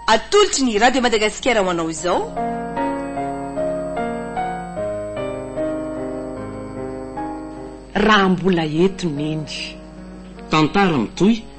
Atolotry ny Radio Madagasikara ho anao izao. Raha mbola eto Neny. Tantara mitohy.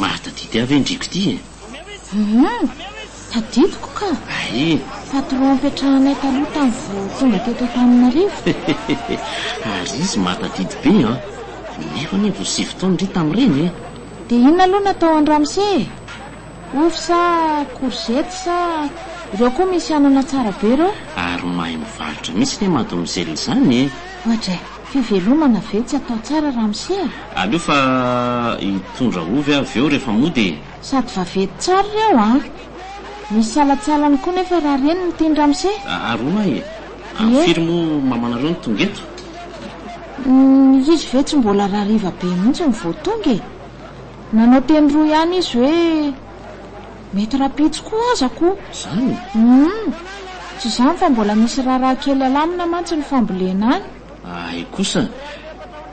Mahatadidy ahy ve ny driako ity e? Hum, tadidiko ka. Ay. Patron nipetrahanay taloha tany vao tonga teto Antananarivo. Ary izy mahatadidy be an! Nefa anie vao sivy taona ry tamin'ireny e! Dia inona aloha no atao an-dramose e? Ovy sa courgette sa? Ireo koa misy anana tsara be ireo. Ary mahay mivarotra mihitsy ne mademoiselle izany e! Ohatra e! Fivelomana ve tsy atao tsara ramose a! Aleo fa hitondra ovy avy eo rehefa mody e! Sady vaventy tsara ireo a! Misy salantsalany koa nefa raha reny no tiany ramose! Ary hono ahy e! Amin'ny firy moa mamanareo no tonga eto? Izy ve tsy mbola rariva be mihitsy no vao tonga e! Nanao teny roa ihany izy hoe, Mety rahampitso koa aza ko. Izany e? Humm. Tsy izany fa mbola misy raharaha kely alamina mantsy ny fambolena any. Hay kosa.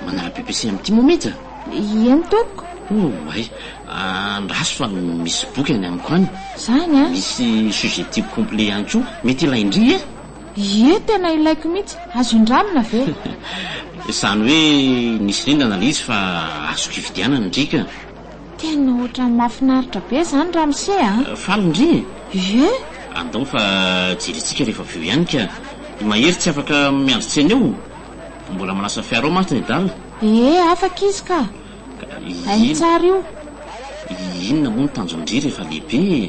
Manala BPC amin'ity moa mihitsy a? Ieny tompoko. Oh, hay. Andraso fa misy boky any amiko any. Izany an. Misy sujet tiako complet ihany koa. Mety ilain-dry e? Ie tena ilaiko mihitsy, azo indramina ve? Izany hoe nisy rindana ilay izy fa azoko hividianana ny driaka a! Tena ohatran'ny mahafinaritra be izany ramose a! Faly ndry e! Ie! Andao fa jerentsika rehefa avy eo ihany ka! I Mahery tsy afaka miandry tsena eo, mbola manasa fiara ao mantsy ny adala. Ee afaka izy ka! Hainy tsara io. Inona moa ny tanjon-dry rehefa lehibe e?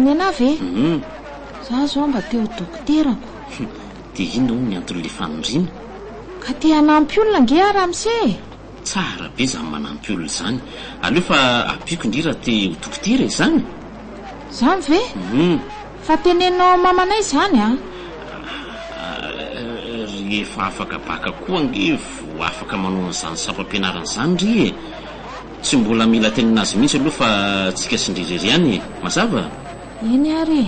Nenah ve? Hum. Za zao mba te ho dokotera ko. Hum, dia inona hono ny anton'ilay fanondriana? Ka te hanampy olona ange aho ramose e! Tsara be izany manampy olona izany. Aleo fa ampiako indry raha te ho dokotera e! Izany? Izany ve? Hum. Fa teneno mamanay izany an! Rehefa afaka baka koa ange vo afaka manao an'izany sampam-pianarana izany ry e! Tsy mbola mila tenenina azy mihitsy aloha fa tsika sy ndry irery ihany e! Mazava? Eny ary e!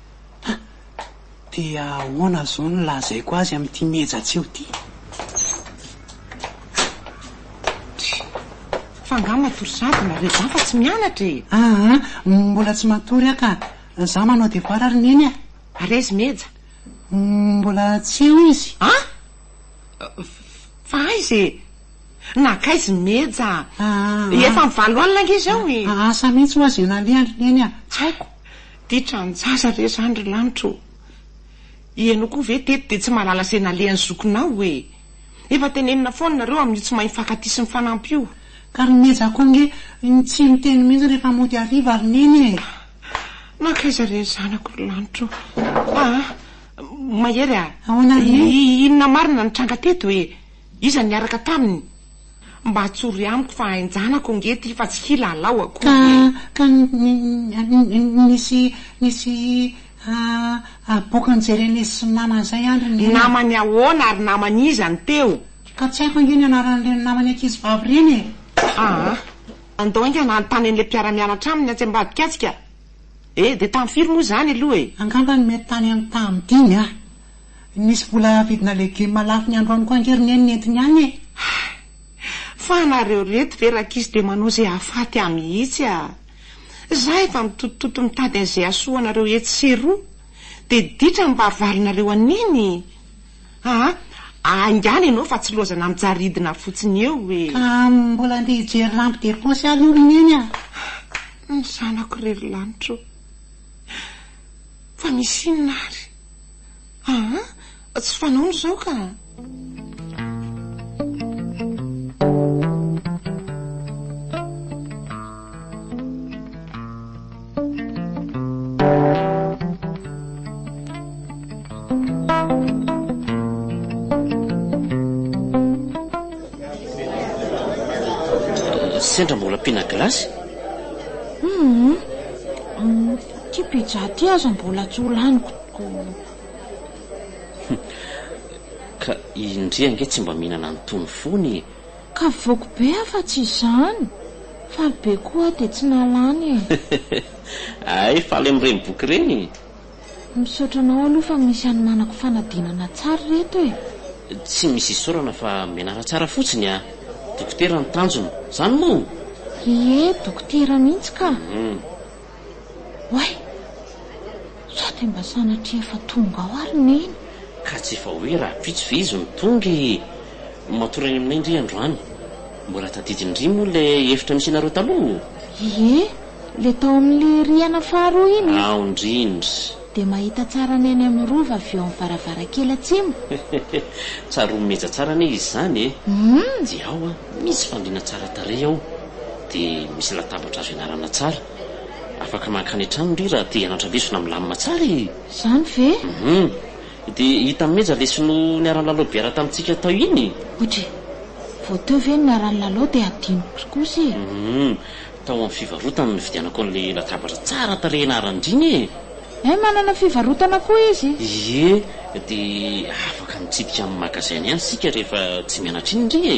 Dia ahoana izao no lazaiko azy amin'ity miheja-tseo ity? Fa angaha matory sahady nareo zah fa tsy mianatra e! Aa! Mbola tsy matory aho ka! Zah manao devoir ary neny a! Ary aizy Meja? Mbola tsy eo izy. An! Fa aiza e! Nankaiza i Meja? Efa amin'ny valo alina ange izao e! Asa mihitsy ho'azy ianareo ary neny a! Tsy haiko. Titra an jaza ve zany ry lanitra ô? Ianao koa ve teto dia tsy mahalala izay nalehan'ny zokinao e? Efa tenenina foana nareo amin'io tsy mahay mifankatia sy mifanampy io. Ka ry Meja koa ange tsy miteny mihitsy rehefa mody hariva ry Neny e! Nankaiza re ny zanako ry lanitra ô? Aa! Mahery a! Ahoana anie? Inona marina no nitranga teto e? Iza no niaraka taminy? Mba tsory amiko fa hain-janako ange ty fa tsy hilalao akory e! Ka nisy aboakany Jeremia sy namany izay an ry neny a! Namany ahoana ary namany iza no teo? Ka tsy haiko ange ny anaran'ireny namany ankizivavy ireny e! Aa! Andao enga hanontany an'ilay mpiara-mianatra aminy atsy ambadika atsika e! Dia tany firy moa izany aloha e? Angamba mety tany amin'ny taha-midimy a! Nisy vola vidina legioma lafo ny androany koa ange ry neny nentiny any e! Hay! Fa anareo reto ve rakisy dia manao izay hahafaty ahy mihitsy a! Za efa mitotitoto mitady an'izay hahasoa anareo etsy sy eroa dia ditra ny barivarinareo an'iny! Aa! Aingano ianao fa tsy loza na mijaly ridina fotsiny eo e! Ka mbola andeha hijery lampe de poche aloha ry neny a! Ny zanako re ry lanitra o! Fa misy inona ary? Aa! tsy fanao izao ka! Sendra mbola ampiana glace? Hum! Ty pizza ty aza mbola tsy ho laniko ko. Ka i Ndry ange tsy mba mihinana an'itony fony e! Ka voky be aho fa tsy izany! Faly be koa aho dia tsy nalany e! Hay faly amin'ireny boky ireny e! Misaotra anao aloha fa misy hanomanako fanadinana tsara ireto e! Tsy misy isaorana fa mianara tsara fotsiny a! Dokotera ny tanjona, izany moa? Ie, dokotera mihitsy ka! Oay! Sa dia mba sanatria efa tonga ao ary Neny? Ka tsy efa hoe rahampitso ve izy no tonga e! Matory any aminay ndry androany. Mbola tadidiny ndry moa ilay efitra misy anareo taloha o! Ie, ilay tao amin'ilay rihana faharoa iny e! Ao ndrindra! Dia mahita tsara ny any amin'ny Rova avy eo amin'ny varavarankely atsimo. Tsaroany meja tsara anie izy izany e! Humm! Dia ao an! Misy fandriana tsara tarehy ao dia misy latabatra azo ianarana tsara. Afaka mankany an-trano ry raha te hianatra lesona milamina tsara e! Izany ve? Hum. Dia hita mimeja le sinoa niara-nilalao biara tamintsika tao iny e! Ouch e! Vao teo ve ny niara-nilalao dia hadinoko ry kosa e! Hum. Tao amin'ny fivarotana nividianako an'ilay latabatra tsara tarehy naharandriana e! Hay manana fivarotana koa izy? Ie, dia afaka mitsidika amin'ny magasin-ny ihany isika rehefa tsy mianatra iny re e!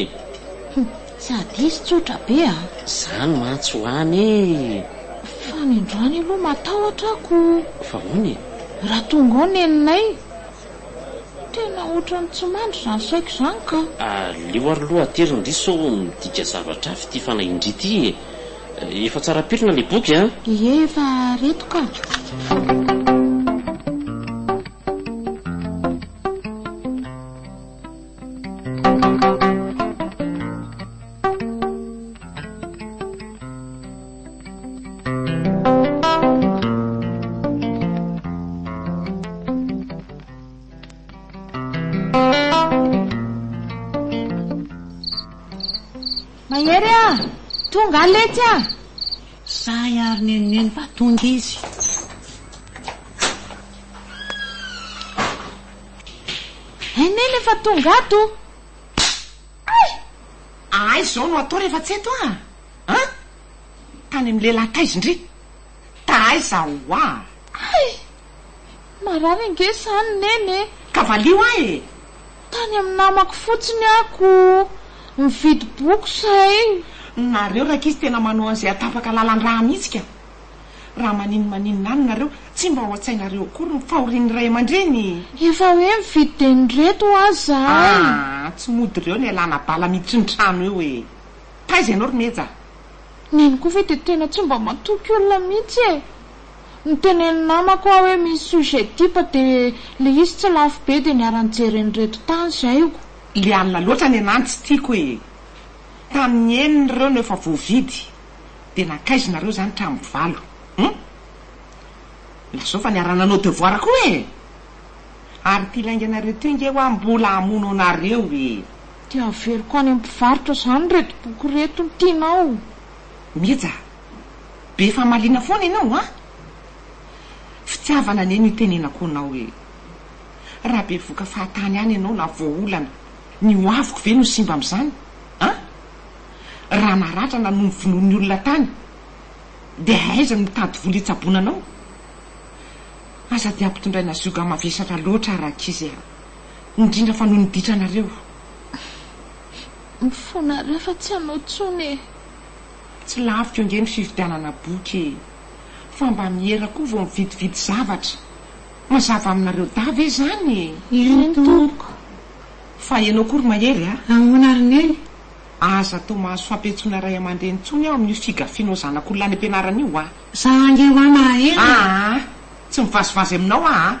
Humm, tsy adisy tsotra be a! Izany mantsy ho an e! Fa ny androany aloha matahotra ako! Fa ahoana e? Raha tonga ao neninay? Tena ohatran'ny tsy mandry izany saiko izany ka! Aleo ary aloha atery ny diso sao midika zavatra hafa ity fanahy indry ity e! Efa tsara pirina ilay boky an! Ie efa reto ka! Mahery a! Tonga aho letsy a! Sahy ary nenoneno fa tonga izy. Hay neny efa tonga ato. Ay! Aiza izao no atao rehefa tsy eto a? An! Tany amin'ny lehilahy taiza ndry? Taiza ho'a? Hay! Marary ange zany Neny e! Ka valio ahy e! Tany amin'ny namako fotsiny aho ko mividy boky zay. Nareo rankizy tena manao an'izay atapaka lalan-drà mihitsy ka! Raha maninona maninona any nareo, tsy mba ao an-tsainareo akory ny fahorian'ny ray aman-dreny? Efa hoe mividy dia nireto ho'a zahay. Aa! Tsy mody reo ny alana bala miditry ny trano eo e! Taiza ianao ry Meja a! Neny koa ve dia tena tsy mba matoky olona mihitsy e! Notenenin'ny namako aho hoe misy sujet type dia ilay izy tsy lafo be dia niara-nijery an'ireto tany zaiko. Ilay alina loatra anie nany tsy tiako e! Tamin'ny enina ireo no efa voavidy dia nankaiza nareo izany hatramin'ny valo hum! Lazao fa niara-nanao devoir koa e! Ary ity lainganareo ity ange hoa mbola hamono anareo e! Dia averiko any amin'ny mpivarotra izany ireto boky ireto no tianao. Meja a! Be famaliana foana ianao an! Fitiavana anie no itenenako anao hoe, raha bevoka fahatany ihany ianao na voaolana, ny ho aviko ve no simba amin'izany an? Raha naratra na novonoin'ny olona tany, dia aiza no mitady vola hitsaboana anao? Aza dia ampitondraina zioga mavesatra loatra, rankizy a! indrindra fa noho ny ditranareo. Mifona re fa tsy anao tsony e. Tsy lafo ange ny fividianana boky e! Fa mba miera koa vao mividividy zavatra. Mazava aminareo dahy ve izany e? Eny tompoko. Fa ianao koa ry Mahery a! Ahoana ry Neny? Aza atao mahazo fampiantsoana ray aman-dreny intsony aho amin'io figafianao zanak'olona any am-pianarana io a! Za ange hoa Mahery e! Aa! Tsy mivazivazy aminao aho a!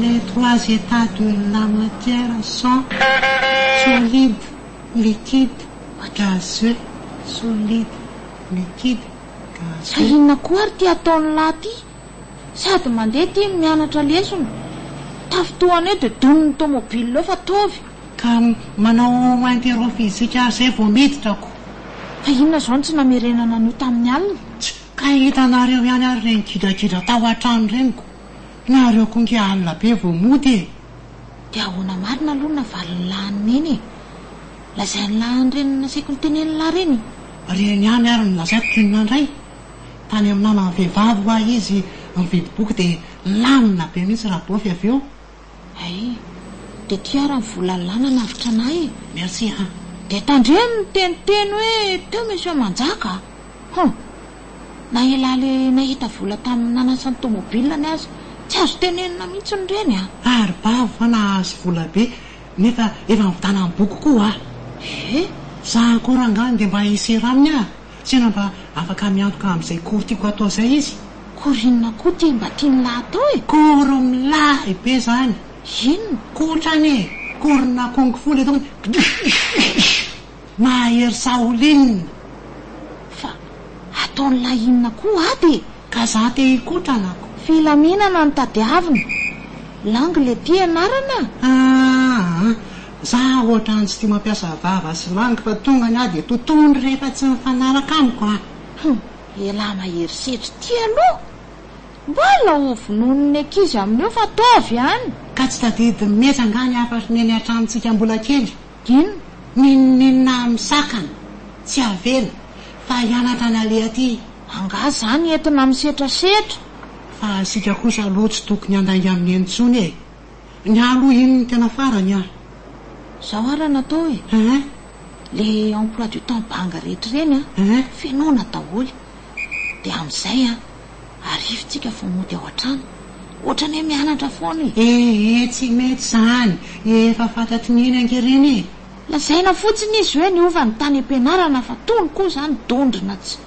Les trois états de la matière sont, solide, liquide, gazeux, solide, liquide, gazeux. Ka inona koa ary ity ataon'lah ity? Sady mandeha ity no mianatra lesona. Tafintohana eo dia donin'ny tomobile eo fa ataovy. Ka manao mainty eroa fizika ary izay vao miditra ko. Fa inona izao no tsy namerenana an'io tamin'ny alina? Tch! Ka hitanareo ihany ary ireny gidragidra tao an-trano ireny ko. Nareo ko nge alina be vao mody e! Dia ahoana marina aloha ny navalin'ny lahin'i Neny e? Lazain'ny lahin'i Reny nasaiko niteny an'i Lahy ireny. Reny ihany ary no lazaiko k'inona indray? tany amin'ny namany vehivavy hoa izy mividy boky dia lamina be mihitsy Rabofi avy eo. Hay. Dia ity ary ny volalà nanavotra anay e! Merci an! Dia tandremo miteniteny hoe teo Monsieur Manjaka a! Hum! Na elah le nahita vola tamin'ny nanasa ny tomobile ny aza tsy azo tenenina mihitsy ny reny a! Ary bavy fa nahazo vola be nefa efa nividanany boky koa hoa! Ehh! Za akory angaha nge mba hisera aminy a! Tena mba afaka miantoka amin'izay kory tiako hatao izay izy. Kory inona koa ity mba tian'lah hatao e? Kory milay be izany. Inona? Kotrany e! Korina kung fu le ataoko Kdxxxx! Mahery Shaolin! Fa ataon'lah inona koa ato e? Ka za te hikotrana ako. Filaminana no tadiavina. Lang le ty ianarana? Aa! Za ohatrany tsy tia mampiasa vava sy langue fa tonga ny ahy dia totoiny rehefa tsy mifanaraka amiko an! Humm! Elah mahery setra ity aloha! Mbola ho vonoiny ny ankizy amin'io fa ataovy any! Ka tsy tadidy mihetsy angaha ny hafatry ny eny an-tranontsika mbola kely? Inona? N'inon'inona amin'ny sakana, tsy avela, fa hianatra ny aleha aty! Angaha zany entina misetrasetra? Fa isika kosa aloha tsy tokony handainga amin'iny intsony e! Ny haloha iny no tena farany an! Zao ara no atao e! Le emploi du temps banga rehetra ireny an, fenoina daholo dia amin'izay an, arivo tsika vao mody ao an-trano. Ohatran'ny hoe mianatra foana e! Ee, tsy mety izany, efa fantatry ny eny ankeriny e! Lazaina fotsiny izy hoe niova ny tany am-pianarana fa tony koa izany dondrona tsy.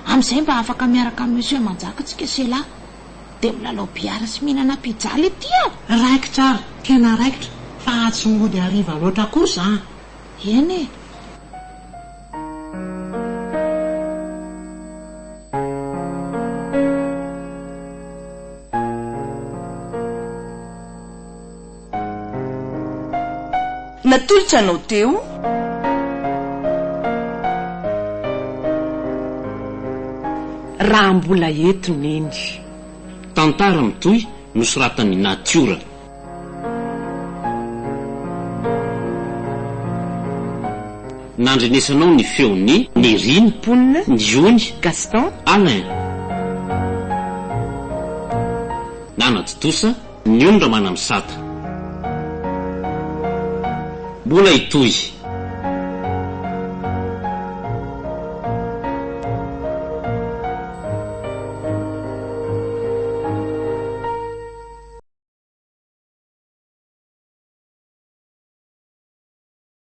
Amin'izay mba afaka miaraka amin'i Monsieur Manjaka tsika se la! Dia milalao billard sy mihinana pizza le tia a! Raikitra ary tena raikitra fa tsy mody hariva loatra kosa an! Eny e! Natolotra anao teo. Raha mbola eto Neny. Tantara mitohy nosoratan'i Natiora. Nandrenesanao ny feon'i. Nerina, mponina, Ndiony, Gaston, Alain. Nanatontosa Ny ondra manamisata. Mbola hitohy.